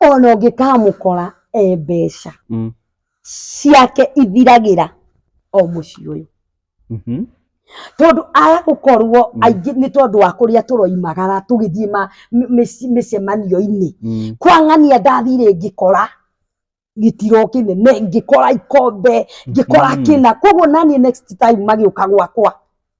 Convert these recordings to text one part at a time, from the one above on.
ona ũngĩkamũkora e mbeca Mm. ciake ithiragĩra o mũciĩ ũyũ Mhm. tondũ aya gũkorwo Mm. aingĩ nĩ tondũ wa kũrĩa tũroimagara tũgĩthiĩ ma- mĩ- mĩci- mĩcemanio-inĩ Mm. kwang'ania ndathire ngĩkora gĩtiro kĩnene ngĩkora ikombe ngĩkora Mhm. kĩna koguo naniĩ next time magĩũka gwakwa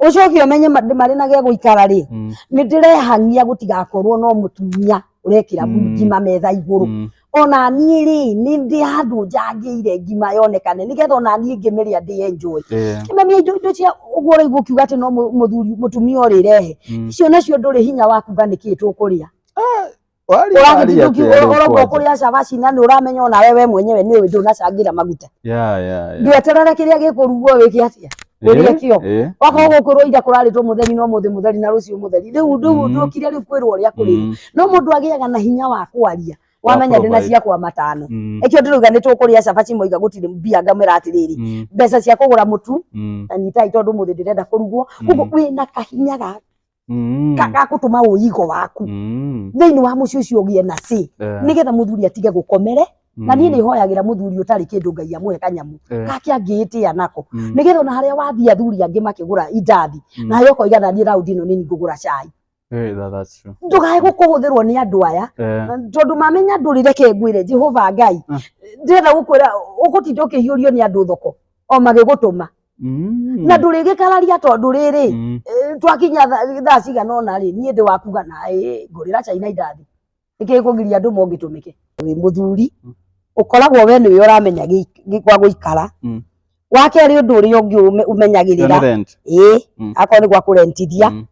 ucoke umenye ma- ndĩ marĩ na gĩa gũikara rĩ Mm, nĩ ndĩrehang'ia gũtigakorwo no mũtumia ũrekĩra Mm. ngima metha igũrũ mm, ona niĩ rĩ nĩ ndĩ handũ njangĩire ngima yonekane nĩgetha ona niĩ ngĩmĩrĩa ndĩ enjoy eh, kĩmemia indo indo cia ũguo ũraigua ũkiuga atĩ no mũ- mũthuri mũtumia ũrĩrehe mm. icio nacio ndũrĩ hinya wa kuga nĩkĩ tũkũrĩa Waria, waria atĩ arĩ ũragĩtindũkiũragwo kwanja. kũrĩa cabaci na nĩ ũramenya ona wewe mwenyewe nĩ ũĩ ndũnacangĩra maguta Yeah, yeah, yeah. ndweterere kĩrĩa gĩkũrugwo wĩke atĩa ũrĩe kĩo Eh, wakorwo gũkwĩrwo ira kũrarĩtwo mũtheri no mũthĩ mũtheri na rũciũ mũtheri rĩu rĩu Mm. ndũkire rĩu kwĩrwo ũrĩa kũrĩrwo mm, no mũndũ agĩaga na hinya wa kwaria Wa wamenya ndĩ na provide. ciakwa matano mm, ĩkĩo ndĩrauga nĩ tũkũrĩa cabaci moiga gũtirĩ mbia ngamera atĩrĩrĩ mm, mbeca cia kũgũra mũtu mm. na nyitai tondũ mũthĩ ndĩrenda kũrugwo Mm. koguo wĩna kahinya ga Mm. Ka- gakũtũma ũigo waku Mm. thĩinĩ wa mũciĩ ũcio ũgĩe na cĩ Eh, nĩgetha mũthuri atige gũkomere na niĩ mm. nĩ hoyagĩra mũthuri ũtarĩ kĩndũ ngai amũhe kanyamũ Eh, gake angĩĩtĩa nako mm. nĩgetha ona harĩa wathiĩ athuri angĩ makĩgũra indathi Mm. nawe ũkoiga naniĩ raundi ĩno nĩ ngũgũra cai Eh, that- that's true. ndũkae gũkũhũthĩrwo nĩ andũ aya Eh, tondũ mamenya ndũrĩ reke ngwĩre jehova ngai Mm. ndĩrenda gũkwĩra ũgũtinda ũkĩhiũrio nĩ andũ thoko o magĩgũtũma Mm. na ndũrĩgĩkararia tondũ rĩrĩ Mm. eh, twakinya tha- thaa cigana ona rĩ niĩ ndĩ wakuga naĩ ngũrĩra caina indathi nĩkĩ kũgiria andũ mongĩtũmĩke wĩ mũthuri Mm. ũkoragwo we nĩwe ũramenya gĩ- gĩ- gwa gũikara Mm. wa kerĩ ũndũ ũrĩa ũngĩ ũme- Yo nĩ ũmenyagĩrĩra rent. ĩĩ Mm. akorwo nĩ gwa kũrentithia Mm.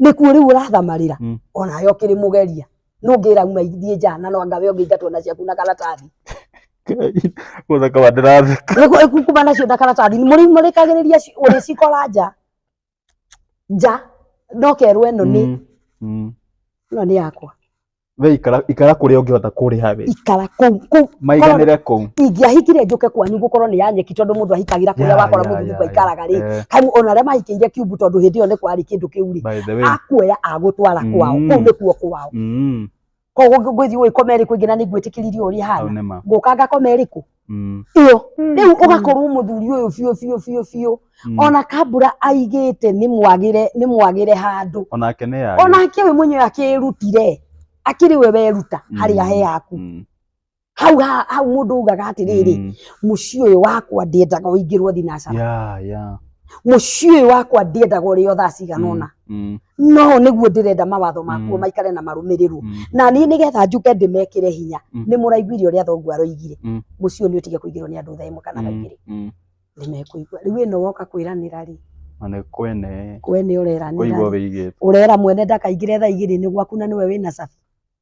nĩkuo rĩu ũrathamarĩra Mm. ona yo kĩrĩ mũgeria no ngĩra uma ithiĩ nja na no anga we ũngĩingatwo na ciaku na karatathi Gũthaka wa ndĩratheka. Nĩguo ĩkukuma nacio na karatathi mũrĩmũrĩkagĩrĩria ci- ũrĩcikora nja nja no kerwo ĩno nĩ Mm, mm. ĩno nĩ yakwa we ikara ikara kuria ungihota kuriha we ikara kuu kuu maiganire kuu ingĩahikire njũke kwanyu gũkorwo nĩ ya nyeki tondũ mũndũ ahikagĩra kũrĩa Yeah, wakora yeah, mũthuri yeah, kwa ikaraga rĩ yeah. kamu ona arĩa mahikĩire kiumbu tondũ hĩndĩ ĩyo nĩ kwarĩ kĩndũ kĩu rĩ by the way akuoya agũtwara kwao Mm. kũu nĩkuo kwao mm koguo ngwĩthiĩ gũgĩkoma ĩrĩkũ ĩngĩ na nĩngwĩtĩkĩririe ũrĩa hau hana nĩ ma ngũka ngakoma ĩrĩkũ Mm. ĩyo rĩu ũgakorwo mũthuri ũyũ biũ biũ biũ biũ Mm. ona kambura aigĩte nĩ mwagĩre nĩ mwagĩre handũ onake nĩ yagĩ onake we mwenyewe akĩrutire akĩrĩ we weruta Mm. harĩa he haku Mm. hau ha- hau mũndũ ugaga atĩrĩrĩ Mm. mũciĩ ũyũ wakwa ndĩendaga ũingĩrwo thinacara ya ya mũciĩ ũyũ wakwa ndĩendaga ũrĩo thaa cigana Mm. ũna Mm. no nĩguo ndĩrenda mawatho makuo Mm. maikare na marũmĩrĩrwo Mm. na niĩ nĩgetha njuke ndĩmekĩre hinya Mm. nĩ mũraiguire ũrĩa thoguo aroigire Mm. mũciĩ ũyũ nĩ ũtige kũigĩrwo nĩ andũ thaa ĩmwe kana thaa Mm. igĩrĩ Mm. nĩ mekũigua rĩu ĩno woka kwĩranĩra rĩ Na nĩ kwene kwene kũigua ũreranĩra rĩ, wĩigĩte. ũrera mwene ndakaingĩre thaa igĩrĩ nĩ gwaku na nĩwe wĩna cabi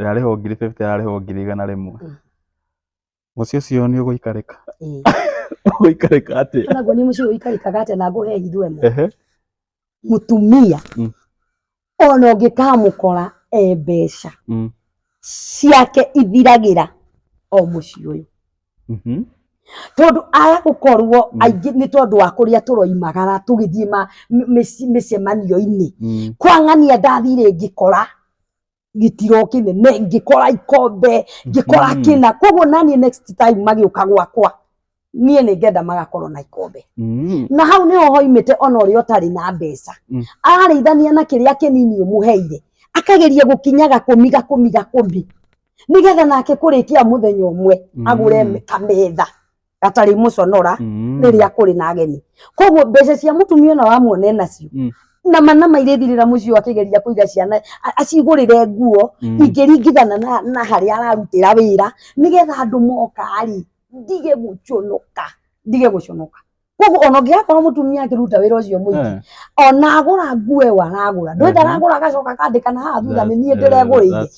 ĩrarĩhwo ngiri fifty ĩrarĩhwo ngiri igana rĩmwe Mm. mũciĩ ũcio nĩ ũgũikarĩka Ĩĩ. ũgũikarĩka atĩa Kana guo nĩ mũciĩ ũikarĩkaga atĩa na ngũhe hitho ĩmwe Ehe. mũtumia Mm. ona ũngĩkamũkora e mbeca Mm. ciake ithiragĩra o mũciĩ ũyũ Mhm. tondũ aya gũkorwo Mm. aingĩ nĩ tondũ wa kũrĩa tũroimagara tũgĩthiĩ ma- mĩ- mĩci- mĩcemanio-inĩ Mm. kwang'ania ndathire ngĩkora gĩtiro kĩnene ngĩkora ikombe ngĩkora Mhm. kĩna koguo naniĩ next time magĩũka gwakwa niĩ nĩ ngenda magakorwo na ikombe Mm. na hau nĩho hoimĩte ona ũrĩa ũtarĩ na mbeca Mm. ararĩithania na kĩrĩa kĩnini ũmũheire akageria gũkinyaga kũmi gakũmi gakũmi nĩgetha nake kũrĩkia mũthenya ũmwe Mm. agũre kametha gatarĩ mũconora Mm. rĩrĩa kũrĩ na ageni koguo mbeca cia mũtumia ona wamuone nacio Mm. na manama irĩthirĩra mũciĩ ũyũ akĩgeria kũiga ciana a- acigũrĩre nguo Mm. ingĩringithana na, na harĩa ararutĩra wĩra nĩgetha andũ moka-rĩ ndige gũconoka ndige gũconoka koguo ona ũngĩgakorwo mũtumia akĩruta wĩra ũcio mũingĩ Eh. ona agũra nguo ĩyo aragũra ndwenda Mhm. aragũra agacoka akandĩkana haha thutha nĩ niĩ That's- eh, ndĩregũrĩire that's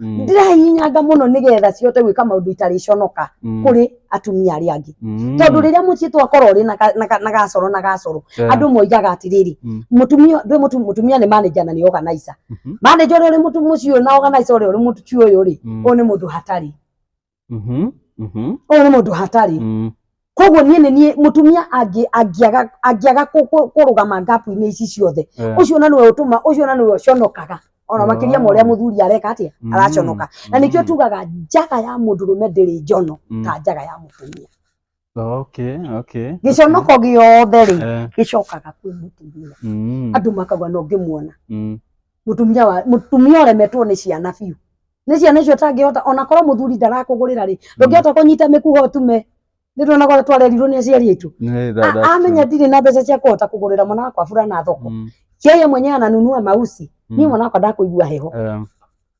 Mm. ndĩrahihinyaga mũno nĩgetha cihote gwĩka maũndũ itarĩconoka Mm. kũrĩ atumia arĩa angĩ Mm. tondũ rĩrĩa mũciĩ twakorwo rĩ na ka- na ka- na gacoro na gacoro Yeah. andå moigaga atĩrĩrĩ Mm. mũtumia ndwĩ mũtu- mũtumia nĩ manager na nĩ organizer Mhm. manager ũrĩa ũrĩ mũtu mũciĩ ũyũ na organizer ũrĩa ũrĩ mũciĩ ũyũ rĩ Mm. ũyũ nĩ mũndũ hatarĩ Mhm, mhm, ũyũ nĩ mũndũ hatarĩ mm. koguo niĩ nĩ niĩ mũtumia angĩ- angĩaga angĩaga kũ- kũ- kũrũgama ngapu-inĩ ici ciothe Eh, ũcio na nĩwe ũtũma ũcio na nĩwe ũconokaga ona makĩria ma ũrĩa Oh. mũthuri areka atĩa mm, araconoka na nĩkĩo mm, tugaga njaga ya mũndũrũme ndĩrĩ njono mm. ta njaga ya mũtumia Okay, okay. gĩconoko gĩothe rĩ Eh, gĩcokaga kwĩ mũtumia mm, andũ makauga no ngĩmuona mm, mũtumia wa mũtumia ũremetwo nĩ ciana biũ nĩ ciana icio ũtangĩhota ona korwo mũthuri ndarakũgũrĩra rĩ ndũngĩhota kũnyita mĩkuha ũtume nĩ ndona gwa twarerirwo nĩ aciari aitũ eh, that- A- that's amenya true. ndirĩ na mbeca cia kũhota kũgũrĩra mwana wakwa burana thoko Mm, yeye mwenyewe ananunua mausi mm, mimi mwana wakwa ndakũigua heho eh,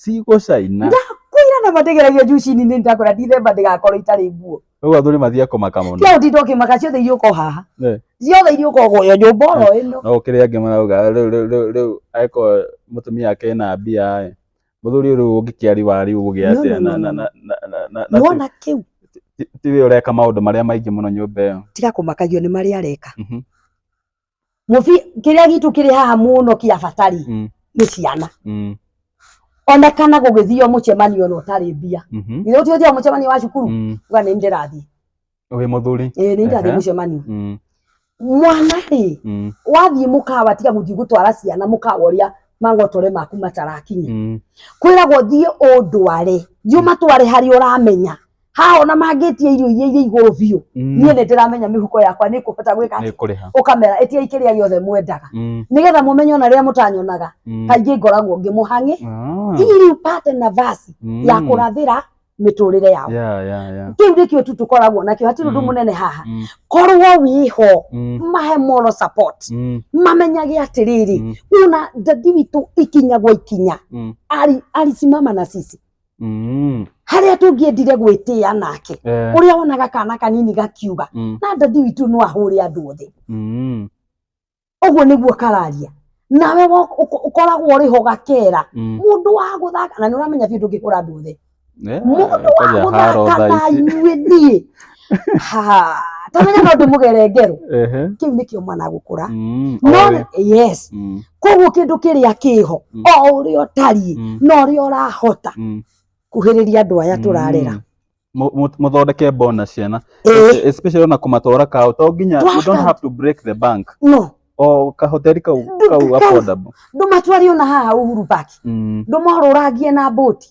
cigũcaina ndakwĩra na mategeragia njuci-inĩ nĩ ndakora ndithemba ndĩgakorwo itarĩ nguo rĩu athuri mathiĩ kũmaka mũno tia ũtinda ũkĩmaka ciothe iria ũko haha Eh. ciothe iria ũko guoyo nyũmba oro ĩno no kĩrĩa angĩ marauga rĩu rĩu rĩu rĩu aĩkorwo mũtumia ake ena mbia ĩ mũthuri rĩu ũngĩkĩari wa rĩu ũgĩ No, atĩa no, na no, na no. na na- na na na ti- nĩwona kĩu ti- tiwe ũreka maũndũ marĩa maingĩ mũno nyũmba ĩyo tiga kũmakagio nĩ marĩa areka Mhm. mũbi kĩrĩa gitũ kĩrĩ haha mũno kĩa bata rĩ Mm. nĩ ciana Mm. ona kana gũgĩthio mũcemanio ona ũtarĩ mbia Mhm. githĩ ũtio ũthiaga mũcemanio wa cukuru Mm. uga nĩ ndĩrathiĩ Wĩ mũthuri. ĩĩ nĩ ndĩrathiĩ Ehe. mũcemanio Mm. mwana rĩ Mm. wathiĩ mũkawa tiga gũthiĩ gũtwara ciana mũkawa ũrĩa mangotore maku matarakinya Mm. kwĩragwo thiĩ ũndware thiĩ ũmatware harĩa ũramenya haha ona mangĩtia irio iria iria igũrũ biũ Mm. niĩ nĩ ndĩramenya mĩhuko yakwa nĩ kũbata gwĩka nĩ atĩ kũrĩha ũkamera ĩtiai kĩrĩa gĩothe mwendaga Mm, nĩgetha mũmenye ona rĩrĩa mũtanyonaga mm. kaingĩ ngoragwo ngĩmũhang'e Ah, ili upate nafasi mm. ya kũrathĩra mĩtũrĩre yao Yeah, yeah, yeah. kĩu nĩkĩo tu tũkoragwo nakĩo hatirĩ ũndũ Mm. mũnene haha Mm, korwo wĩho mm, mahe moral support mm, mamenyage atĩrĩrĩ Mm. una ndadi witũ ikinya gwa ikinya mm. ari arisimama na sisi Mm. harĩa tũngĩendire gwĩtĩĩa nake Eh. ũrĩa wonaga kana kanini gakiuga Mm. na ndadi witũ no ahũre andũ othe Mm. ũguo nĩguo kararia nawe wo- ũko- ũkoragwo ũrĩ ho gakera Mm. mũndũ wa gũthaka na nĩ ũramenya biũ ndũngĩhũra andũ othe Eh, mũndũ wa kwaja haro gũthaka thaa na ici. inyuĩ niĩ Ha, tamenya no ndimugere ngeru Ehe. kiu nikio mwana agukura Mm, no oĩ. yes Mm, koguo kindu kiria kiho Mm. o uria utariĩ mm, no uria urahota mm. kuhiriria andu aya turarera Mm. Mu- mu- muthondeke bona ciana Eh, especially ona kumatwara kao to nginya you don't Twaka. have to break the bank no o kahoteri kau Ndu- kau kau. affordable ndumatwari ona haha uhuru park Mm, ndumorurangie na boti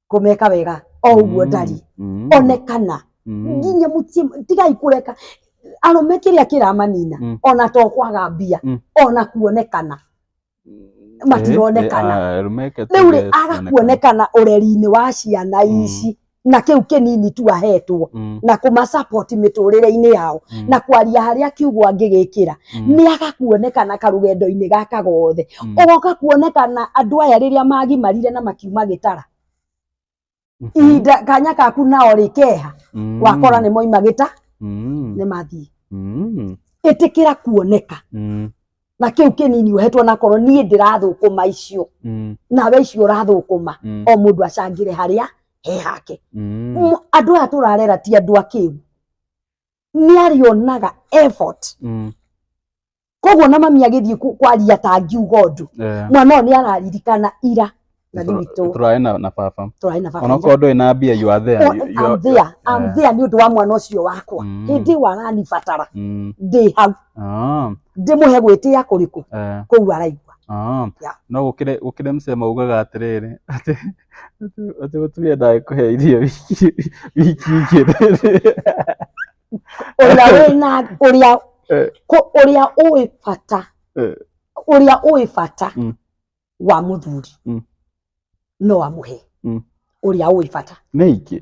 kũmeka wega o ũguo ndari Mm. onekana Mm. nginya mutie tigai kureka arume kiria kiramanina Mm. ona to kwaga mbia Mm. ona kuonekana matironekana Eh, eh, ah, rumeke tu riu ri yes, aga onekana. kuonekana ureri-ini wa ciana Mm. ici na kiu kinini tu ahetwo Mm. na kuma support miturire-ini yao Mm. na kwaria haria kiugo angigikira Mm. nĩ aga kuonekana karũgendo-inĩ gaka gothe Mm. ũgoka kuonekana andũ aya rĩrĩa magimarire na makiuma gĩtara Mhm. ihinda kanya kaku nao rĩ keha Mm. wakora nĩ moima gĩta Mm. nĩ mathiĩ Mm. ĩtĩkĩra kuoneka Mm. na kĩu kĩnini ũhetwo nakorwo niĩ ndĩrathũkũma icio Mm. nawe icio ũrathũkũma Mm. o mũndũ acangĩre harĩa he hake Mm. M- andũ aya tũrarera ti andũ akĩu nĩ arĩonaga effort Mm. koguo na mami agĩthiĩ ku- kwaria ta ngiuga ũndũ Eh, mwana ũyũ nĩ araririkana ira na nĩ tũra- witũ tũraĩ na na baba tũraĩ na baba onokorwo ndũĩ na mbia you are there Oh, You- you I'm are- there, I'm Eh. there nĩ ũndũ wa mwana ũcio wakwa Mm. hĩndĩ ĩyo aranibatara Mm. ndĩ hau Ah, ndĩmũhe gwĩtĩa kũrĩkũ eh, kũu araigua ah. Yeah. no gũkĩrĩ gũkĩrĩ msee maugaga atĩrĩrĩ atĩ Ate mũtumia ndaĩ kũhe irio wiki wiki igĩrĩ. ũrĩa wĩna ũrĩa Eh. kũ- ũrĩa ũĩ bata Eh. ũrĩa ũĩ bata Mm. wa mũthuri Mm. no amũhe Mm. ũrĩa ũĩ bata Nĩ ingĩ.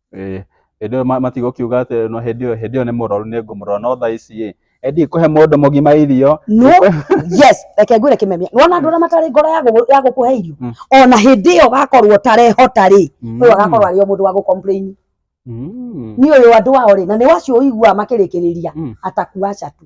Ĩĩ, hĩndĩ ĩyo matigũkiuga atĩ no hĩndĩ ĩyo hĩndĩ ĩyo nĩ mũrwaru nĩ ngũmũrora no thaa ici ĩ endi kũhe mũndũ mũgima irio no yes reke ngwĩre kĩmemia nĩwona andũ arĩa matarĩ ngoro ya gũ- ya gũkũhe irio Mm. ona hĩndĩ ĩyo gakorwo tarehota rĩ ũyũ agakorwo arĩ o mũndũ wa gũcomplain Mm. nĩ ũyũ andũ ao rĩ na nĩ wacio ũiguaga makĩrĩkĩrĩria Mm. atakuaca tu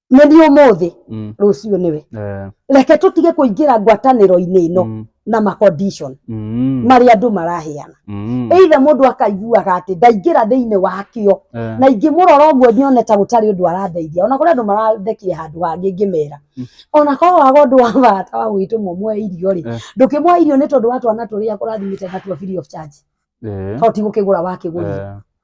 nĩ niĩ ũmũthĩ mm, rũciũ nĩwe eh, reke tũtige kũingĩra ngwatanĩro-inĩ ĩno mm, na ma condition mm, marĩa andũ maraheana mm, either mũndũ akaiguaga atĩ ndaingĩra thĩinĩ wakĩo eh, na ingĩmũrora ũguo nione ta gũtarĩ ũndũ arandeithia ona kũrĩ andũ marandekia handũ hangĩ ngĩmera Mm. ona korwo waga ũndũ wa bata wa gwĩtũmwo mwe irio rĩ Eh. ndũkĩmwa irio nĩ tondũ wa twana tũrĩa kũrathimĩte na tua free of charge eh, to ti gũkĩgũra wakĩgũrire eh,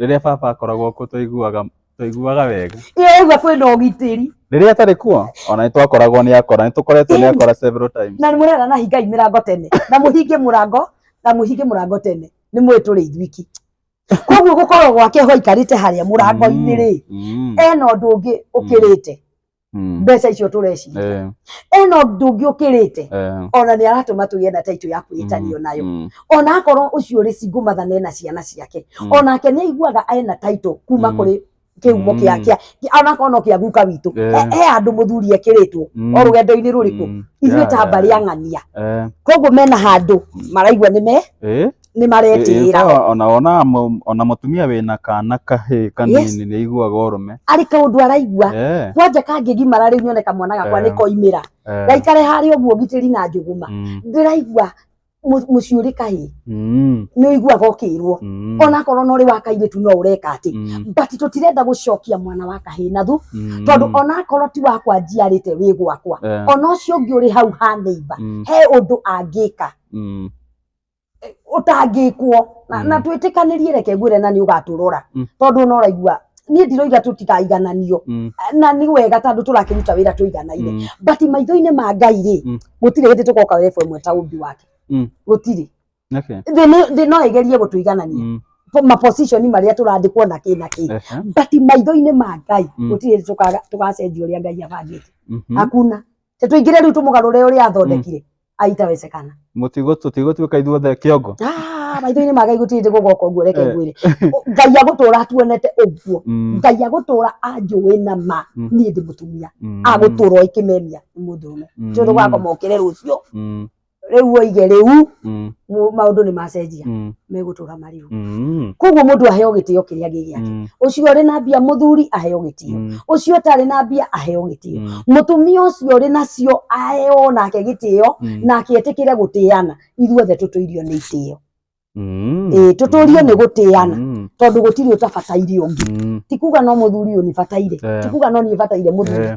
Rĩrĩa baba akoragwo kuo twaiguaga twaiguaga wega. Nĩwaigua kwĩna ũgitĩri. Rĩrĩa atarĩ kuo ona nĩ twakoragwo nĩ akora, nĩ tũkoretwo nĩ akora several times. Na mũrera na hingai mĩrango tene na mũhinge mũrango na mũhinge mũrango tene nĩ mũĩ tũrĩ ithuiki. Koguo gũkorwo gwake ho aikarĩte harĩa mũrango-inĩ rĩ, mm, mm. ena ũndũ ũngĩ ũkĩrĩte. Mm. mbeca icio tũreciria Eh, ena ũndũ ũngĩ ũkĩrĩte eh, ona nĩ aratũma tũgĩe na taitũ ya kwĩtanio mm, nayo mm, ona akorwo ũcio rĩ cingũ mathana ena ciana ciake Mm. onake nĩ aiguaga ena taitũ kuma Mm. kũrĩ kĩhumo Mm. kĩa kĩa kĩa- onakorwo no kĩa guka witũ Eh. He- he andũ mũthuri ekĩrĩtwo mm, o rũgendo-inĩ rũrĩkũ mm, ithuĩ yeah, ta yeah, mbarĩ ang'ania eh, koguo mena handũ maraigua nĩ me eh, nĩ maretĩĩra Ĩĩ, ona ona mũ- ona mũtumia wĩna kana kahĩ kanini nĩ aiguaga ũrũme arĩ kaũndũ araigua Eh, kwanja kangĩgimara rĩu nyone kamwana gakwa Eh. nĩ koimĩra eh, gaikare harĩa ũguo gitĩri na njũgũma mm, ndĩraigua mũ- mũciĩ ũrĩ kahĩ mm, nĩ ũiguaga ũkĩrwo mm, onakorwo no ũrĩ wa kairĩtu no ũreka atĩ mm, but tũtirenda gũcokia mwana wa kahĩ na thu mm, tondũ onakorwo ti wakwa njiarĩte wĩ gwakwa eh, ona ũcio ũngĩ ũrĩ hau ha neighbor mm, he ũndũ angĩka mm, eh, ũtangĩkwo na, Mm. na twĩtĩkanĩrie reke ngwĩre na nĩ ũgatũrora Mm. tondũ ona ũraigua niĩ ndiroiga tũtikaigananio Mm. na nĩ wega tondũ tũrakĩruta wĩra tũiganaire Mm. but maitho-inĩ ma ngai rĩ Mm. gũtirĩ hĩndĩ tũgoka rebu ĩmwe ta ũmbi wake Mm. gũtirĩ Okay. thĩ nĩ- thĩ no ĩgerie gũtũiganania Mm. Po- maposition marĩa tũrandĩkwo na kĩ na kĩ Ehe. but maitho-inĩ ma ngai Mm. gũtirĩ hĩndĩ tũkaga- tũgacenjia ũrĩa ngai abangĩte Mhm. hakuna tũingĩre rĩu tũmũgarũre ũrĩa athondekire aitawezekana Mũtigo tũtigũtuĩka ithuothe kĩongo. Ah, maitho-inĩ ma ngai gũtirĩ ndĩ gũgoka ũguo reke Eh. ngwĩre Ũ- ngai agũtũra atuonete ũguo Mm, ngai agũtũra anjũĩ na ma Mm. niĩ ndĩ mũtumia mm, agũtũra oĩ kĩmemia nĩ mũndũrũme mm, tondũ gakoma ũkĩre rũciũ mm, rĩu oige rĩu mm, mu- maũndũ nĩ macenjia mm. megũtũra wagĩrĩru Mm. koguo mũndũ aheo gĩtĩo kĩrĩa gĩ gĩake Mm. ũcio ũrĩ na mbia mũthuri aheo gĩtĩo Mm. ũcio ũtarĩ na mbia aheo gĩtĩo Mm. mũtumia ũcio ũrĩ nacio aheo nake gĩtĩo Mm. nake etĩkĩre gũtĩana ithuothe tũtũirio nĩ itĩo Mm. Ĩĩ, tũtũrio nĩ gũtĩana Mm. tondũ gũtirĩ ũtabataire ũngĩ Mm. ti kuga no mũthuri ũyũ nĩbataire Eh. ti kuga no niĩ bataire mũthuri Eh.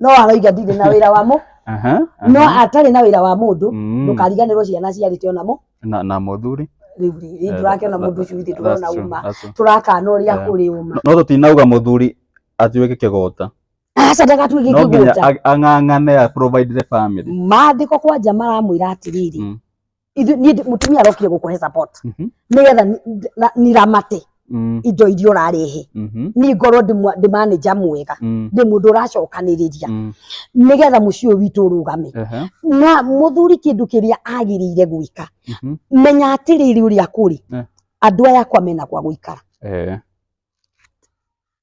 no aroiga ndirĩ na wĩra wa mũ Aha, aha. no atarĩ na wĩra wa mũndũ Mm. ndũkariganĩrwo ciana ciarĩte ona mũ na na mũthuri rĩu rĩ Eh, ndũrakĩona that- mũndũ ũcio ithe that's tũrona true, uma that's true. tũrakana ũrĩa Eh. kũrĩ uma no tũtinauga mũthuri atuĩke kĩgũta aca ndagatuĩke no nginya kĩgũta ag- ang'ang'ane a provide the family maandĩko kwanja maramwĩra atĩrĩrĩ Mm. ithu- niĩ ndi- mũtumia arokire gũkũhe support Mhm. nĩgetha ni- ndi- na- niramate Mm. indo iria ũrarehe Mhm. ni ngorwo ndĩ mwa- ndĩ manager mwega Mm. ndĩ mũndũ ũracokanĩrĩria Mm. nĩgetha mũciĩ ũyũ witũ ũrũgame Aha. na mũthuri kĩndũ kĩrĩa agĩrĩire gwĩka Mhm. menya atĩrĩrĩ ũrĩa kũrĩ Eh. andũ aya akwa mena kwa gũikara Eh.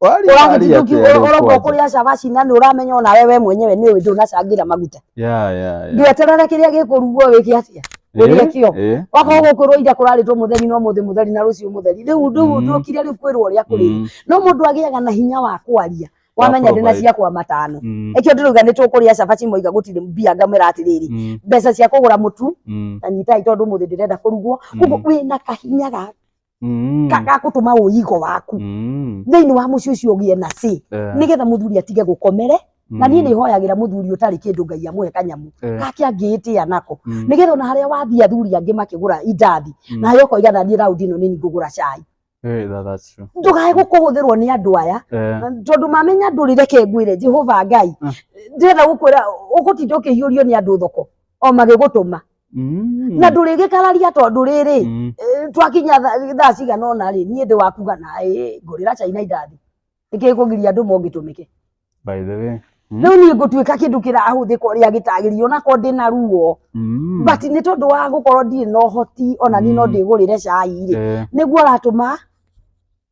Waria- waria atĩa rĩu ũragwo kwanja? kũrĩa cabaci na nĩ ũramenya ona wewe mwenyewe nĩ ũndũ unacangĩra maguta Yeah, yeah, yeah. ndweterere kĩrĩa gĩkũrugwo wĩke atia wĩrĩa kĩo Eh, eh. wakorwo gũkwĩrwo ira kũrarĩtwo mũtheri no mũthĩ mũtheri na rũciũ mũtheri rĩu rĩu Mm. ndũkire rĩu kwĩrwo ũrĩa kũrĩ Mm, no mũndũ agĩaga na hinya wa kwaria Wa wamenya ndĩ na provide. ciakwa matano mm, ĩkĩo ndĩrauga nĩ tũkũrĩa cabaci moiga gũtirĩ mbia ngamwĩra atĩrĩrĩ mm, mbeca cia kũgũra mũtu mm. na nyitai tondũ mũthĩ ndĩrenda kũrugwo Mm. koguo wĩna kahinya ga Mm. Ka- gakũtũma ũigo waku Mm. thĩinĩ wa mũciĩ ũcio ũgĩe na cĩ Eh, nĩgetha mũthuri atige gũkomere na niĩ mm. nĩ hoyagĩra mũthuri ũtarĩ kĩndũ ngai amũhe kanyamũ Eh, gake angĩĩtĩa nako mm. nĩgetha ona harĩa wathiĩ athuri angĩ makĩgũra indathi Mm. na harĩa ũkoiga na niĩ raundi ĩno nĩ niĩ ngũgũra cai Eh, that- that's true. ndũkae gũkũhũthĩrwo nĩ andũ aya Eh, tondũ mamenya ndũrĩ reke ngwĩre jehova ngai Mm. ndĩrenda gũkwĩra ũgũtinda ũkĩhiũrio nĩ andũ thoko o magĩgũtũma Mm. na ndũrĩgĩkararia tondũ rĩrĩ Mm. eh, twakinya tha- thaa cigana ona rĩ niĩ ndĩ wakuga naĩ ngũrĩra caina indathi nĩkĩ kũgiria andũ mongĩtũmĩke By the way. Mm. rĩu niĩ ngũtuĩka kĩndũ kĩrahũthĩka ũrĩa gĩtagĩrĩire onako ndĩ na ruo Mm. but nĩ tondũ wa gũkorwo ndirĩ na ũhoti ona niĩ no Mm. ndĩgũrĩre cai rĩ Eh, nĩguo ũratũma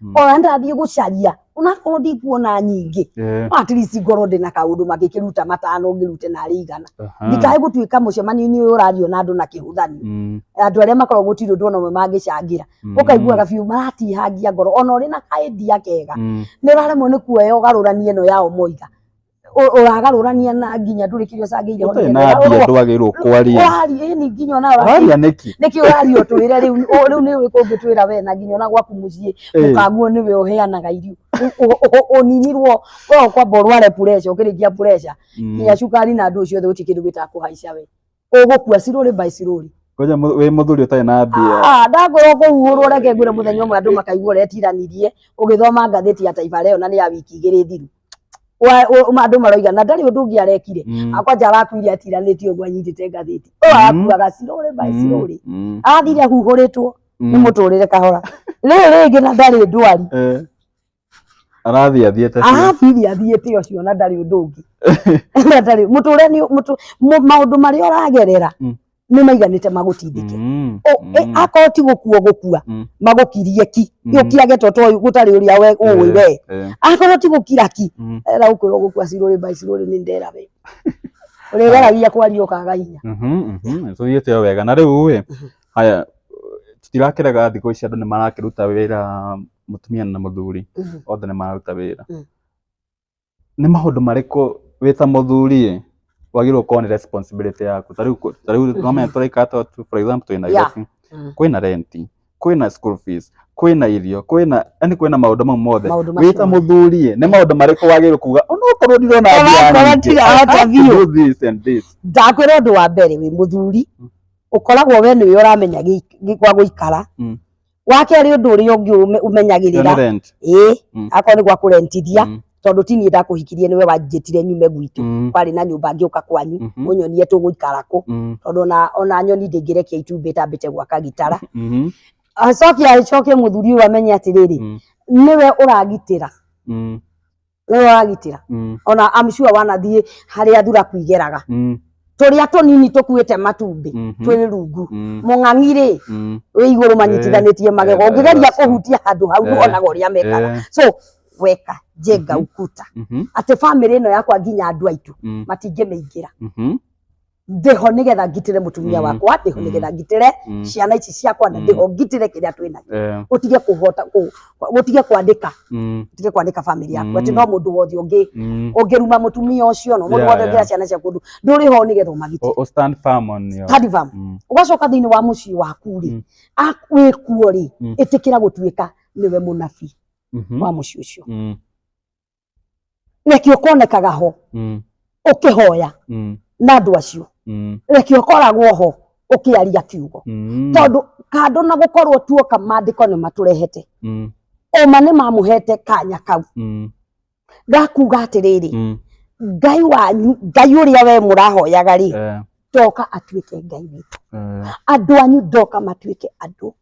Mm. ona ndathiĩ gũcaria onakorwo ndikuona nyingĩ Eh, no at least ngorwo ndĩ na kaũndũ mangĩkĩruta matano ngĩrute narĩ igana aha. ndikae gũtuĩka mũcemanio-inĩ ũyũ ũrario na andũ na kĩhũthanio Mm, andũ arĩa makoragwo gũtirĩ ũndũ ona ũmwe mangĩcangĩra mm, ũkaiguaga biũ maratihangia ngoro ona ũrĩ na kaendia kega mm. nĩ ũraremwo nĩ kuoya ũgarũranie ĩno yao moiga ũ- ũragarũrania na nginya ndũrĩ kĩrĩa ũcangĩire ũtarĩ na mbia ndwagĩrĩirwo kwaria ũraria ĩni nginya ona ũraria waria nĩkĩ nĩkĩ ũraria ũtwĩre rĩu ũ- rĩu nĩ ũrĩkũ ũngĩtwĩra we na nginya ona gwaku mũciĩ Eh. mũkanguo nĩwe ũheanaga irio Ũ- ũ- ũ- ũninirwo we kwamba ũrware pureca ũkĩrĩkia pureca Mm. nginya cukari na andũ ũcio othe gũtirĩ kĩndũ gĩtakũhaica we ũgũkua cirũrĩ by cirũrĩ Ngoja mu- wĩ mũthuri ũtarĩ na mbia. Ah, ndangorwo kũhuhũrwo reke ngwĩre mũthenya ũmwe andũ makaigua ũrĩa ĩtiranirie ũgĩthoma ngathĩti ya taifa leo na nĩ ya wiki igĩrĩ thiru Wa- ũ- ũ- andũ maroiga na ndarĩ ũndũ ũngĩ arekire Mm. akwanja arakuire atiranĩtie ũguo anyitĩte ngathĩti ũ Mm. arakuaga cirũrĩ by Mm. cirũrĩ Mm. athire ahuhũrĩtwo nĩ Mm. mũtũrĩre kahora rĩrĩ rĩngĩ na ndarĩ ndwari Eh. arathiĩ athiĩte biũ. arathiĩ athiĩte ũcio na ndarĩ ũndũ ũngĩ na ndarĩ mũtũre nĩ mũtũ mũ- maũndũ marĩa ũragerera Mm. nĩ maiganĩte magũtindĩke Mm, Ũ- mm. ĩ- akorwo ti gũkua gũkua Mm. magũkirie ki Mm. yũkiage to toĩ gũtarĩ ũrĩa we ũĩ Eh, we eh, akorwo ti gũkira ki mm, era gũkwĩrwo gũkua cirũrĩ mbai cirũrĩ nĩ ndera we ũrĩgeragia kwaria ũkaga hinya mhm, mhm, nĩtũthiĩte o wega na rĩu ĩ haya tũtirakĩrega thikũ ici andũ nĩ marakĩruta wĩra mũtumia na mũthuri Mhm. othe nĩ mararuta wĩra Mm. nĩ maũndũ marĩkũ wĩ ta mũthuri ĩ wagĩrĩirwo gũkorwo nĩ responsibility yaku ta rĩu kũ- ta rĩu tũramenya tũraikara ta tu- for example twĩ Nairobi Mm. kwĩna renti kwĩna school fees kwĩna irio kwĩna yani kwĩna maũndũ mau mothe Maũndũ macio wĩ ta mothe. mũthuri ĩ nĩ maũndũ marĩkũ wagĩrĩirwo kuga onokorwo ndirona mbia Onokorwo nyingĩ, ndirahota I have to biũ." do this and this ndakwĩra ũndũ wa mbere wĩ mũthuri ũkoragwo we nĩwe ũramenya gĩ- gĩ- gwa gũikara Mm. wa kerĩ ũndũ ũrĩa ũngĩ ũme- Ĩyo nĩ ũmenyagĩrĩra rent. ĩĩ Mm. akorwo nĩ gwa kũrentithia Mm. tondũ ti niĩ ndakũhikirie nĩwe wanjĩtire nyume gwitũ Mm. kwarĩ na nyũmba ngĩũka kwanyu Mhm. ũnyonie tũgũikara kũ Mm. tondũ ona ona nyoni ndĩngĩrekia itumbĩ tambĩte gwaka gitara Mhm. acoke acoke mũthuri ũyũ amenye atĩrĩrĩ Mm. nĩwe ũragitĩra Mm. we wagitira Mm. ona I'm sure wanathiĩ harĩa thuraku igeraga Mm. tũrĩa tũnini tũkuĩte matumbĩ Mhm. twĩ rungu Mm. mũng'ang'i rĩ Mm. wĩ igũrũ manyitithanĩtie magego eh, ũngĩgeria that's- kũhutia handũ hau Eh, nĩwonaga ũrĩa mekaga eh. so weka jenga ukuta Mhm. atĩ bamĩrĩ ĩno yakwa nginya andũ aitũ Mm. matingĩmĩingĩra Mhm. ndĩho nĩgetha ngitĩre mũtumia Mm. wakwa ndĩho Mm. nĩgetha ngitĩre Mm. ciana ici ciakwa na Mm. ndĩho ngitĩre kĩrĩa twĩ nakĩo Eh, gũtige kũhota kũ- gũtige kwandĩka mm, gũtige kwandĩka famĩlĩ yaku Mm. atĩ no mũndũ wothe ũngĩ mm. ũngĩruma mũtumia ũcio no mũndũ Yeah, wothe yeah. ũngĩra ciana ciaku ũndũ ndũrĩ ho nĩgetha ũmagitĩre O- o stand firm on your- Stand firm. Mm, ũgacoka thĩinĩ wa mũciĩ waku rĩ Mm. a- wĩ kuo rĩ Mm. ĩtĩkĩra gũtuĩka nĩwe mũnabii mhm, wa mũciĩ ũcio mm, reke ũkonekaga ho Mm. ũkĩhoya Mm. na andũ acio Mm. reke ũkoragwo ho ũkĩaria kiugo Mm. tondũ kando na gũkorwo tuoka maandĩko nĩ matũrehete Mm. ũma nĩ mamũhete kanya kau Mm. gakuga atĩrĩrĩ Mm. ngai wanyu ngai ũrĩa we mũrahoyaga rĩ Eh. ndoka atuĩke ngai witũ Eh. andũ anyu ndoka matuĩke andũ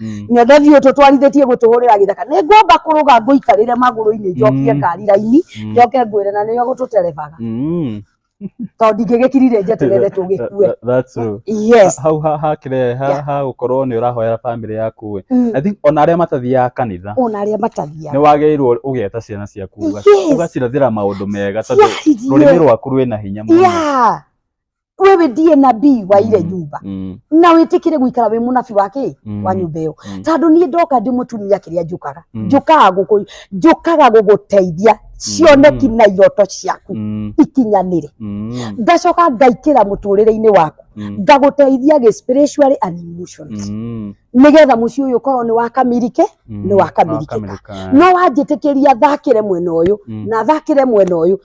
Mm. nyothe thiå tå twarithä tie gå tå hå rä ra gä thaka nä ngwamba kå rå ga ngå ikarä re magå rå-inä njokie Mm. ngari raini Mm. njoke ngwä re na nä o gå tå terebaga Mm. tondå ndingä gä kirire njeterere tå gä Tha- kue tha- that's true. yes hau ha- hakire ha- Yeah. ha gukorwo ni urahoera family yaku ĩ. Mm. i think ona aria matathiaga kanitha ona arä a matathiaga ni wagĩrĩirwo ũgeta ciana ciaku ũga- Yes. ũgacirathĩra maũndũ mega tondũ rũrĩmĩ ciahirie rwaku rwĩna hinya mũno ya wewe ndiye nabii wa ile Mm, nyumba mm, na wĩtĩkĩre gũikara wĩ mũnabi wa kĩ mm, wa nyũmba ĩyo mm. tondũ niĩ ndoka ndĩ mũtumia kĩrĩa njũkaga Mm. njũkaga gũkũ njũkaga gũgũteithia cioneki na iroto ciaku Mm, ikinyanĩre mm, ngacoka ngaikĩra mũtũrĩre-inĩ waku mm, ngagũteithia gĩ spiritually and emotionally mm, nĩgetha mũciĩ ũyũ ũkorwo nĩ wakamirike mm. nĩ wakamirikĩka. Wakamirika. no wanjĩtĩkĩria thakĩre mwena ũyũ Mm. na thakĩre mwena ũyũ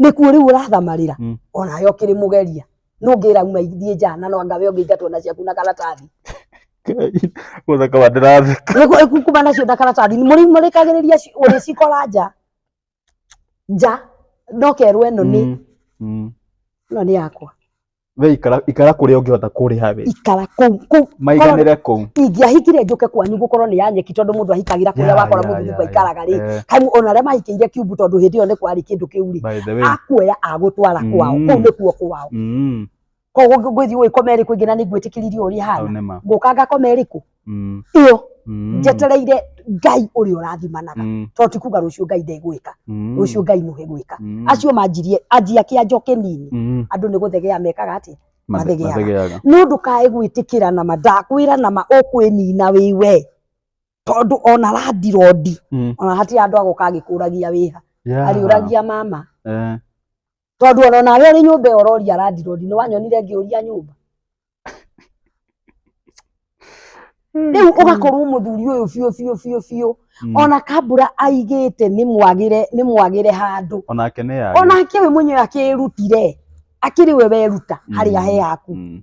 nĩkuo rĩu ũrathamarĩra Mm. onawe ũkĩrĩ mũgeria nũngĩra uma ithiĩ nja na no angawe ũngĩingatwo na ciaku na karatathi Gũthaka wa ndĩratheka. Nĩguo kuma nacio na karatathi mũrĩmũrĩkagĩrĩria ũrĩcikora nja nja ndokerwo ĩno nĩ Mm, mm. ĩno nĩ yakwa we ikara ikara kuria ungihota kuriha we ikara kuu kuu maiganire kuu ingĩahikire njũke kwanyu gũkorwo nĩ ya nyeki tondũ mũndũ ahikagĩra kũrĩa Ya, wakora ya, mũthuri ya, kwaikaraga rĩ Eh, kai ona arĩa mahikĩire kiumbu tondũ hĩndĩ ĩyo nĩ kwarĩ kĩndũ kĩu rĩ by the way akuoya agũtwara Mm. kwao kũu nĩkuo kwao mm koguo ngwĩthiĩ ũĩkome ĩrĩkũ ĩngĩ na nĩ ngwĩtĩkĩririo ũrĩa au hana nĩ ma ngũka ngakome ĩrĩkũ Mm. ĩyo Mm. njetereire ngai ũrĩa ũrathimanaga Mm. tondũ ti kuga rũciũ ngai ndegwĩka Mm. rũciũ ngai nũhe gwĩka Mm. acio manjirie anjia kĩanjo kĩnini Mm. andũ nĩ gũthegea mekaga atĩ Mathe- mathegeaga. mathegeaga. no ndũkae gwĩtĩkĩra na ma ndakwĩra na ma ũkwĩnina wĩ we tondũ ona randirodi Mm. ona hatirĩ andũ agũka agĩkũragia wĩha Yeah. ariũragia mama Eh. tondu ona nawe uri nyumba ĩyo ũroria landirodi nĩ wanyonire ngĩũria nyumba rĩu ũgakorwo mũthuri ũyũ biũ biũ biũ biũ Mm. ona kambura aigĩte nĩ mwagĩre nĩ mwagĩre handũ onake nĩ yage onake we mwenyewe akĩrutire akĩrĩ we weruta harĩa he haku Mm.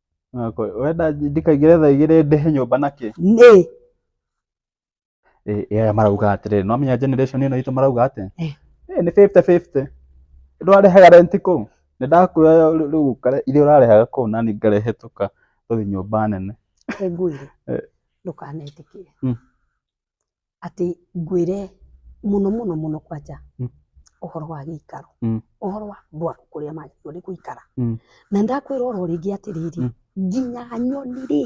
Nako, wenda ndikaingĩre thaa igĩrĩ ndĩhe nyũmba na kĩ? Nĩ. Ĩ, ĩ, aya marauga atĩrĩrĩ, nĩwamenya generation ĩno itũ marauga atĩ, Eh. "Ĩ, nĩ fifty fifty. Ndwarĩhaga rent kũu? Nĩndakuoya rĩ- rĩu ũkare iria ũrarĩhaga kũu nani ngarĩhĩtũka tũthiĩ nyũmba nene." Reke ngwĩre, Eh. ndũkanetĩkĩre. Mm. atĩ ngwĩre mũno mũno mũno kwanja ũhoro wa gĩikaro, ũhoro wa andũ aya kũrĩa magĩrĩirwo nĩ gũikara. Na nĩ ndakwĩra o ro rĩngĩ atĩrĩrĩ, nginya nyoni rĩ,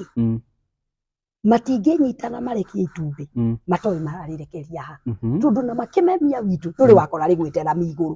matingĩnyitana marekie itumbĩ matoĩ mararĩrekeria ha, tondũ ona makĩmemia witũ ndũrĩ wakora rĩgwĩte rami igũrũ.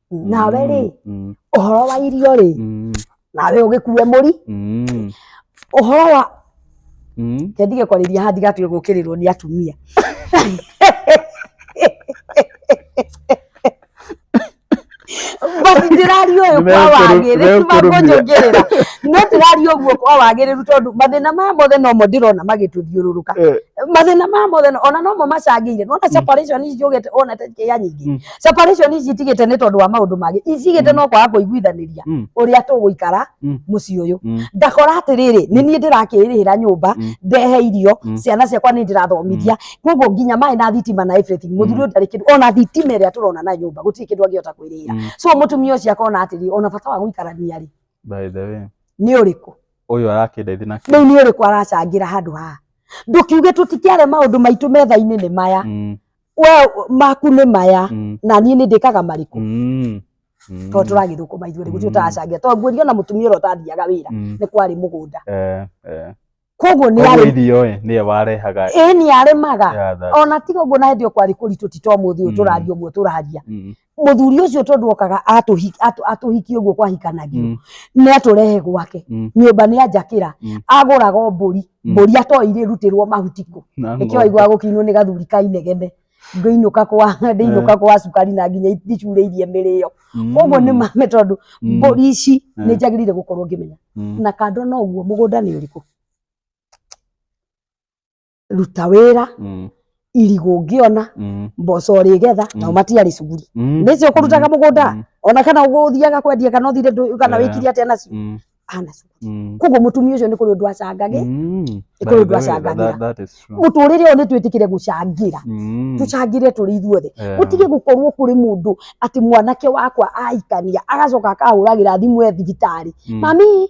nawe rĩ Mm, ũhoro wa irio rĩ mm, nawe ũgĩkue mũri mm, ũhoro wa mm. kendige kwarĩria haha ndigatuge gũkĩrĩrwo nĩ atumia basi ndĩraria ũyũ kwa Nĩmekũrũ- wagĩrĩru nĩmekũrũmia. magũnjũngĩrĩra no ndĩraria ũguo kwa wagĩrĩru tondũ mathĩna maya mothe nomo ndĩrona magĩtũthiũrũrũka Eh, mathĩna maya mothe no- ona nomo macangĩire nona separation ici njũgĩte ona tekĩya nyingĩ Mm. separation ici itigite ni tondu wa maundu mangi itigite Mm. no kwaga kuiguithaniria Mm. uria tuguikara Mm. mucii uyu Mm. ndakora atiriri ni nie ndirakirihira nyumba Mm. ndehe irio Mm. ciana ciakwa ni ndirathomithia koguo nginya maĩ na thitima na everything muthuri uyu ndarĩ kindu ona thitima ĩrĩa tũrona na nyumba gũtirĩ kindu angĩhota kwĩrĩhĩra Mm. so mutumia ucio akona atiri ona bata wa guikarania ri By the way, ni uriku uyu arakindaithi na riu ni uriku aracangira handu haha ndukiuge tutikiare maundu maitu metha-ini ni maya Mm. we maku nĩ maya Mm. na niĩ nĩ ndĩkaga marĩkũ Mm. Mm. tondũ tũragĩthũkũma ithuerĩ gũtirĩ Mm. ũtaracangia tondũ nguonia ona mũtumia ũrĩa ũtathiaga wĩra Mm. nĩ kwarĩ mũgũnda Eh, eh. koguo nĩ Koguo arĩ irio ĩ, nĩye warehaga ĩĩ nĩ arĩmaga ya thati. ona tiga ũguo na hĩndĩ ĩyo kwarĩ kũritũ ti ta ũmũthĩ ũyũ Mm. tũraria ũguo tũraria Mm. muthuri ucio tondu okaga atuhi- atu- atuhikie uguo kwahikanagio Mm. ni aturehe gwake Mm. nyumba ni anjakira Mm. aguraga o mburi Mm. mburi atoi rirutirwo mahuti ku Na nikio ng'ombe. aigua gukinwo ni gathuri ka inegene ngĩinũka kwa ndĩinũka kwa cukari na nginya ndicurĩirie mĩrĩo Mm. koguo nĩ mame tondũ Mm. mbũri ici Eh. nĩ njagĩrĩire gũkorwo ngĩmenya Mm. na kando na ũguo mũgũnda nĩ ũrĩkũ ruta wĩra Mm. irigũ ũngĩona Mm. mboco ũrĩgetha nao Mm. matiarĩ cuguri Mm. nĩcio ũkũrutaga mũgũnda Mm. ona kana ũgũthiaga kwendia kana ũthire ndũ- kana Eh. wĩkire atĩa nacio Mm. ana cuguri Mm. koguo mũtumia ũcio nĩ kũrĩ ũndũ acangage Mm. Nĩ By kũrĩ the ũndũ way, acangagĩra. that- that is true. mũtũrĩre ũyũ nĩ twĩtĩkĩre gũcangĩra Mm. tũcangĩre tũrĩ ithuothe Yeah. gũtige gũkorwo kũrĩ mũndũ atĩ mwanake wakwa aikania agacoka akahũragĩra thimũ e thibitarĩ Mm. mami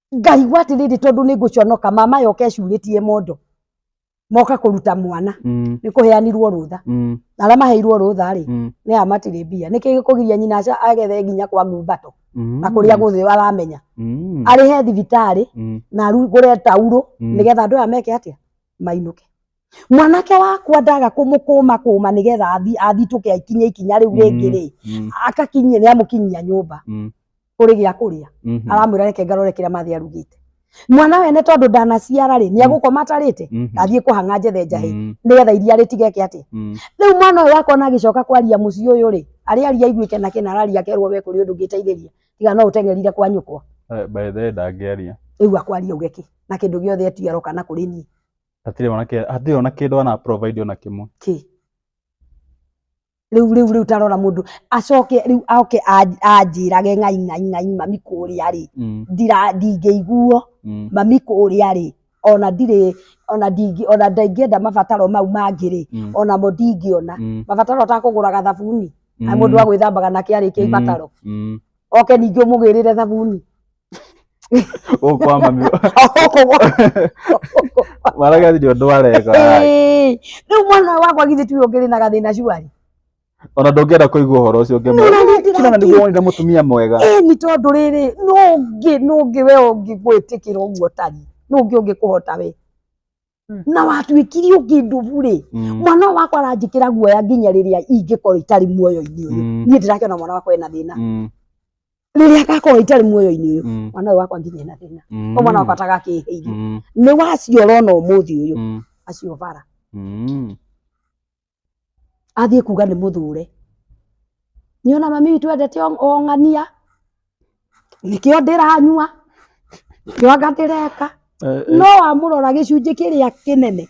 ngai gwatiriri tondu ni nguconoka mama yoka ecuritie mondo moka kuruta mwana Mm. ni kuheanirwo rutha Mm. aria maheirwo rutha ri Mm. ni a matiri mbia niki gikugiria nyina aca agethe nginya kwa ngumbato Mm. na kuria guthi aramenya Mm. arihe thibitari Mm. na arugure tauro Mm. nigetha andu aya meke atia mainuke mwanake wakwa ndaga kũmũkũma kũma nĩgetha athi- athitũke aikinye ikinya rĩu rĩngĩ rĩ Mm, akakinyie nĩ amũkinyia nyũmba mm, kũrĩ gĩa kũrĩa mhm, aramwĩra reke ngarore kĩrĩa mathĩ arugĩte mwana wene tondũ ndanaciara rĩ nĩ agũkoma atarĩte mhm, athiĩ kũhang'a njethe njahĩ mm, nĩgetha iria rĩtigeke atĩ mm, rĩu mwana ũyũ wakona agĩcoka kwaria mũciĩ ũyũ rĩ arĩa aria aiguĩke na kĩna araria akerwo we kũrĩ ũndũ ngĩteithĩria tiga no ũteng'erire kwa nyũkwa eh, by the way ndangĩaria rĩu akwaria uge kĩ na kĩndũ gĩothe eti aroka na kũrĩ niĩ hatirĩ ona kĩ- hatirĩ ona kĩndũ ana provide ona kĩmwe kĩ rĩu rĩu rĩu tarora mũndũ acoke rĩu oke anj- anjĩrage ng'ai ng'ai ng'ai mami kũrĩa rĩ Mm, ndira ndingĩiguo mm, mami kũrĩa rĩ ona ndirĩ ona ndingĩ ona ndingĩenda mabataro mau mangĩ rĩ mm, onamo ndingĩona mm, mabataro ũtakũgũraga thabuni na mm, mũndũ agwĩthambaga nake arĩkia mm, ibataro mm. oke ningĩ ũmũgĩrĩre thabuni ũkwama maragati ndio andũ areka Ĩĩ, rĩu mwana wakwa githĩ tiwe ũngĩrĩ na gathĩna cuarĩ ona ndũngĩenda kũigua ũhoro ũcio Nĩ ũrĩa ndĩrakiuga. ũngĩmwona nĩguo wonire mũtumia mwega ĩĩ nĩ tondũ rĩrĩ nũngĩ nũngĩ we ũngĩgwĩtĩkĩra ũguo tari nũngĩ ũngĩkũhota we Mm. na watuĩkire ũkĩndũbu rĩ Mm. mwana ũyũ wakwa aranjĩkĩra guoya nginya rĩrĩa ingĩkorwo itarĩ muoyo-inĩ ũyũ Mm. niĩ ndĩrakĩona mwana wakwa ena thĩna Mm. rĩrĩa agakorwo itarĩ muoyo-inĩ ũyũ Mm. mwana ũyũ wakwa nginya ena thĩna Mm. o mwana wakwa atagakĩhĩire Mm. nĩ waciora ona ũmũthĩ ũyũ Mm. acio bara Mm. athiĩ kuga nĩ mũthure nyona mami witũ endete ong- ong'ania nĩkĩo ndĩranyua nĩkĩo anga ndĩreka Eh, eh, no wamũrora gĩcunjĩ kĩrĩa kĩnene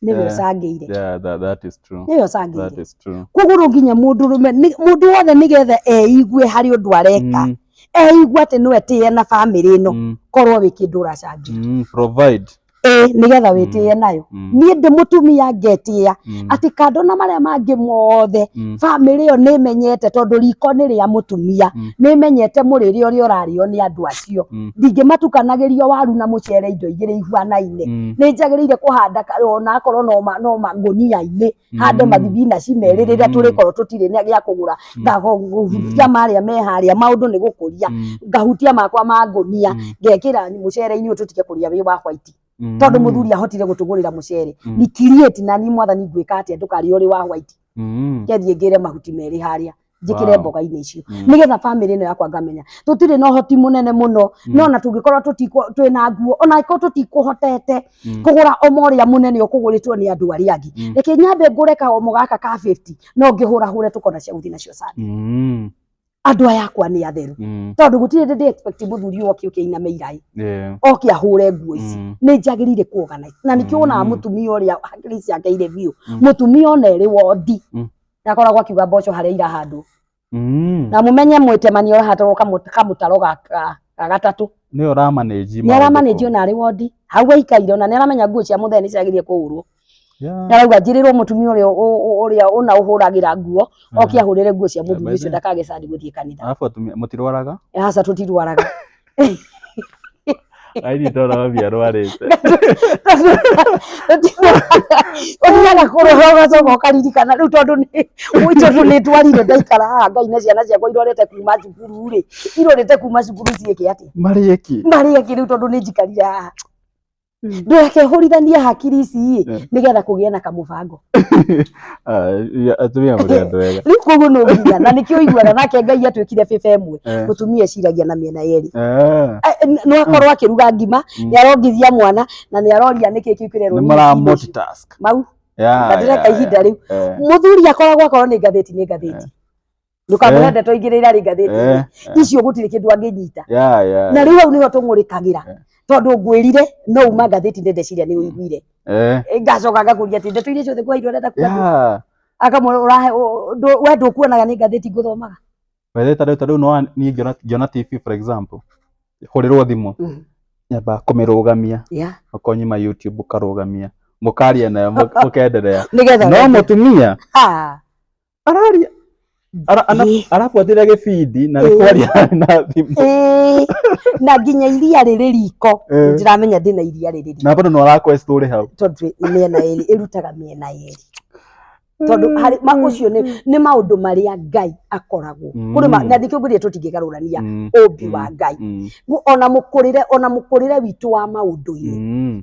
nĩwe Eh. ũcangĩire yeah, that, that is true. nĩwe That ũcangĩire is true. koguo no nginya mũndũ rũme nĩ- mũndũ wothe nĩgetha eigue harĩ ũndũ areka Mm, eigue atĩ no etĩe na bamĩrĩ ĩno mm, korwo wĩ kĩndũ ũracangĩra mm, provide. ĩĩ nĩgetha wĩtĩe nayo Mm. niĩ ndĩ mũtumia ngetĩa Mm. atĩ kando na marĩa mangĩ mothe Mm. bamĩrĩ ĩyo nĩ ĩmenyete tondũ riko nĩ rĩa mũtumia Mm. nĩ ĩmenyete mũrĩre ũrĩa ũrarĩo nĩ andũ acio Mm. ndingĩmatukanagĩria waru na mũcere indo igĩrĩ ihuanaine Mm. nĩ njagĩrĩire kũhanda ka- ona akorwo no ma- no mangũnia-inĩ hande mathibinaci merĩ rĩrĩa Mm. tũrĩkorwo tũtirĩ na gĩa kũgũra Mm. ngahutia marĩa me harĩa maũndũ nĩ gũkũria Mm. ngahutia makwa ma ngũnia Mm. ngekĩra mũcere-inĩ ũyũ tũtige kũrĩa wĩ wa white Mm. tondũ mũthuri ahotire gũtũgũrĩra mũcere Mm. ni create na ni mwathani ngwĩka atĩa ndũkarĩa ũrĩ wa white Mm. ngethiĩ ngĩre mahuti merĩ harĩa njikire Wow. mboga-inĩ icio Mm. nigetha family ĩno yakwa ngamenya tũtirĩ na ũhoti mũnene mũno Mm. no na tũngĩkorwo tũtikũ- twĩna nguo ona angĩkorwo tũtikũhotete Mm. kũgũra omo ũrĩa mũnene ũkũgũrĩtwo nĩ andũ arĩa angĩ Mm. reke nyambe ngũre kaomo gaka ka 50 no ngĩhũrahũre tũkona cia gũthiĩ nacio sana Mm. andũ aya akwa nĩ atheru Mm. tondũ gũtirĩ ndĩ expect mũthuri ũyũ oke ũkĩiname iraĩ Yeah. oke ahũre nguo ici Mm. nĩ njagĩrĩire kuogana na nĩkĩo wonaga Mm. mũtumia ũrĩa hakiri ciake irĩ biũ Mm. mũtumia ona erĩ wondi Mm. na akoragwo akiuga mboco harĩa irahandwo Mm. na mumenye mwĩtemani ũrahatwo kamũtaro ga ga- ga gatatũ Nĩ ũramanĩji. nĩ aramanĩji ona arĩ wondi hau aikaire ona nĩ aramenya nguo cia mũthee nĩ ciagĩrĩire kũhũrwo nĩ arauga njĩrĩrwo mũtumia ũrĩa ũ- ũ- ũrĩa ũna ũhũragĩra nguo oke ahũrĩre nguo cia mũthuri ũcio ndakage candi gũthiĩ kanitha Arabu atumia mũtirwaraga? aca tũtirwaraga Aini ndona mami arwarĩte. ũthiaga kũrora ũgacoka ũkaririkana rĩu tondũ nĩ ũi tondũ nĩ ndwarire ndaikara haha ngai na ciana ciakwa irorete kuma cukuru rĩ irorete kuma cukuru ciĩke atĩ Marĩki. marĩe kĩ rĩu tondũ nĩ njikarire haha Mm. ndũreke hũrithanie hakiri ici ĩ Yeah. nĩgetha kũgĩa na kamũbango Ah, ya- atumia mũrĩ andũ wega rĩu koguo no nginya na nĩkĩo ũiguaga nake ngai atwĩkire bĩba ĩmwe Eh, mũtumia eciragia na mĩena yerĩ ah, Eh, n- no akorwo akĩruga ngima Mm. nĩ arongithia mwana na nĩ aroria nĩkĩ kĩu kĩrerwo nĩ nini mara indo ici. multitask mau Yeah, na ndĩreka yeah, ihinda rĩu yeah, eh. mũthuri akoragwo akorwo nĩ ngathĩti nĩ ngathĩti ndũkamũhe Eh. ndeto ingĩ rä irarä ngathä Eh, ti icio gå tirä kä ndå angä nyita ya ya na rä u hau nä ho tå ngå rä kagä ra Eh. tondå ngwä rire no uma ngathä ti nä ndeciria nä å iguire eh, ngacoka ngakå ria atä ndeto iria ciothe kwa indo arenda kuona ya akamwe ũrahe ũ- ndũ- we ndũkuonaga nĩ ngathĩti ngũthomaga wethe ta rĩu ta rĩu no niĩ ngĩona ngĩona TV for example hũrĩrwo thimũ Mhm. nyamba kũmĩrũgamia Yeah. ũkonyima YouTube ũkarũgamia mũkaria nayo mũ- mũkenderea nĩgetha no mũtumia Ah, araria Ara- ana- Ĩĩ. arabuatĩrĩra gĩbindi na Ĩĩ. nĩkwaria na thimũ Ĩĩ, na nginya iria rĩrĩ riko Ĩĩ. ndiramenya ndĩna iria rĩrĩ riko na bado no arakwest ũrĩ hau tondũ mĩena ĩrĩ ĩrutaga mĩena ĩrĩ tondũ harĩ ma ũcio nĩ nĩ maũndũ marĩa ngai akoragwo Mm. kũrĩ ma- na ndikĩo ngwĩrire tũtingĩgarũrania Mm, ũmbi wa mm, ngai mm, Gu- ona mũkũrĩre ona mũkũrĩre witũ wa maũndũ-inĩ mm.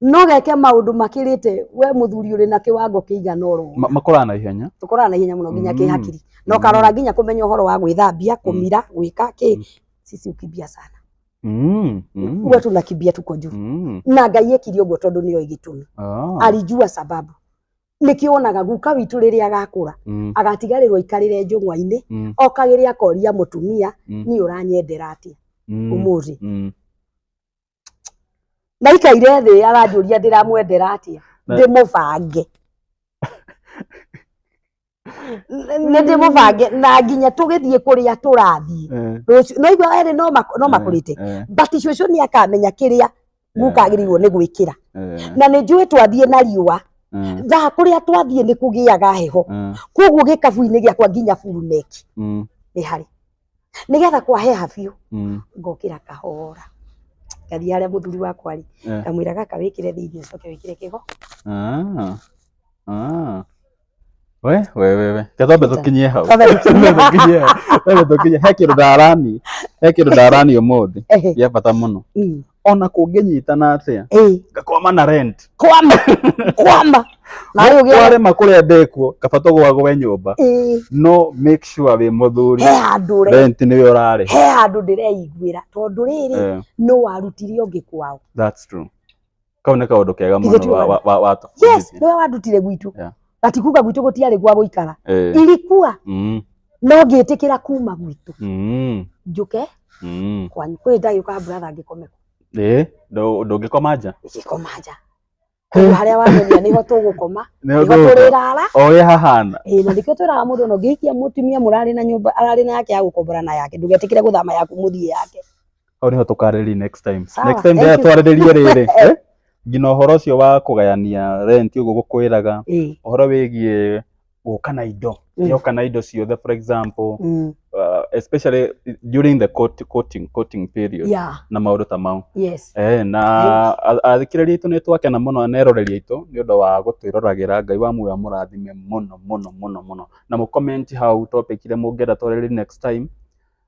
no geke maundu makirite we muthuri uri na kiwango kiigana oro Ma- makũraga na ihenya tukorana na ihenya muno nginya Mm. kihakiri na ukarora nginya kumenya uhoro wa gwithambia kumira gwika Mm. ki sisi ukimbia sana Mm, mm, uwe tunakimbia tuko juu mm. na ngai ekire uguo tondu nio igitumi Ah, alijua sababu nikionaga guka witu riria agakura mm, agatigarirwo ikarire njung'wa-ini mm, okagire akoria mutumia Mm. ni uranyendera atia mm, umuthi mm. ndaikaire thĩ aranjũria ndĩramwendera atĩa Na- ndĩmũbange nĩ ndĩmũbange na nginya tũgĩthiĩ kũrĩa tũrathiĩ Eh, rũciũ no igua erĩ no mak- no eh, makũrĩte eh, but cũcũ nĩ akamenya kĩrĩa guka Eh. agĩrĩirwo nĩ gwĩkĩra eh, na nĩ njũĩ twathiĩ na riũa eh, thaa kũrĩa twathiĩ nĩ kũgĩaga heho eh, koguo gĩkabu-inĩ gĩakwa nginya buruneki mm, nĩ harĩ nĩgetha kwaheha biũ Mm. ngokĩra kahora ngathiĩ harĩa mũthuri wakwa rĩ Eh. ngamwĩra gaka wĩkĩre thĩinĩ ũcoke wĩkĩre kĩgo Ah. Ah. We, we, we, we. Katombe tũkinyie hau. Twambe tũkinyie hau. Tũkinyie hau. Twambe tũkinyie. He kĩndũ ndarani. He kĩndũ ndarani ũmũthĩ. Ehe. Gĩa bata mũno. Mm. ona kũngĩnyitana atĩa ĩĩ ngakwama na rent kwamba kwamba na rĩu gĩa warema kũrĩa ndekuo kaba tũgwagwe nyũmba ĩĩ no make sure wĩ mũthuri he handũ re rent nĩwe ũrarĩha he handũ ndĩreiguĩra tondũ rĩrĩ Eh, nũ warutire ũngĩ kwao that's true kau nĩ kaũndũ kega Ithe mũno tu wa- wa- wa- wa- yes nĩwe wandutire gwitũ Yeah. na tikuga gwitũ gũtiarĩ gwa gũikara Eh, ilikuwa mm, no ngĩtĩkĩra kuma gwitũ Mm. njũke Mm. kwanyu kwĩ ndagĩũka brother ngĩkome kũ Eh, ndũ- ndũngĩkoma nja ngĩkoma nja kũndũ harĩa wamenyia nĩho tũgũkoma Nĩho nĩho tũgũkoma. tũrĩrara o ũrĩa hahana ĩĩ na nĩkĩo twĩraga mũndũ ona ũngĩhikia mũtumia mũrarĩ na nyũmba ararĩ na yake ya gũkombora na yake ndũgetĩkĩre gũthama yaku mũthiĩ yake hau niho tũkarĩrĩria next time Sawa, next time thank rĩrĩa you. twarĩrĩrie rĩrĩ eh, nginya ũhoro ũcio wa kũgayania rent ũguo gũkwĩraga Eh, ũhoro wĩgiĩ gũka na indo Mm. yoka na indo ciothe for example mm, uh, especially during the court, courting, courting period yeah, na maũndũ ta mau yes. Eh, na a- athikĩrĩria aitũ nĩ twakena mũno na eroreri aitũ nĩ ũndũ wa gũtwĩroragĩra ngai wa muoyo mũrathime mũno mũno mũno mũno na mũkomenti hau topic iria mũngĩenda twarĩrĩrie next time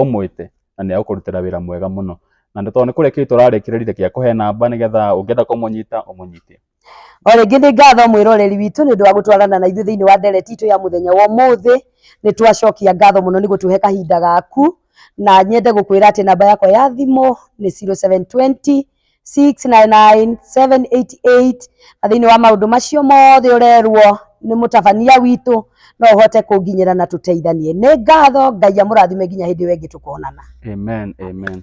ũmwĩte na nĩ egũkũrutĩra wĩra mwega mũno. Na tondũ nĩ kũrekereria tũrarekereria reke akũhe namba nĩgetha ũngĩenda kũmũnyita ũmũnyite. O rĩngĩ nĩ ngatho mwĩroreri witũ nĩ ũndũ wa gũtwarana na ithuĩ thĩinĩ wa ndereti itũ ya mũthenya wa ũmũthĩ. Nĩ twacokia ngatho mũno nĩ gũtũhe kahinda gaku, na nyende gũkwĩra atĩ namba yakwa ya thimũ nĩ 0720 699 788 na thĩinĩ wa maũndũ macio mothe ũrerwo nĩ mũtabania witũ no ũhote kũnginyĩra na tũteithanie nĩ ngatho ngai amũrathime nginya hĩndĩ ĩyo ĩngĩ tũkonana amen amen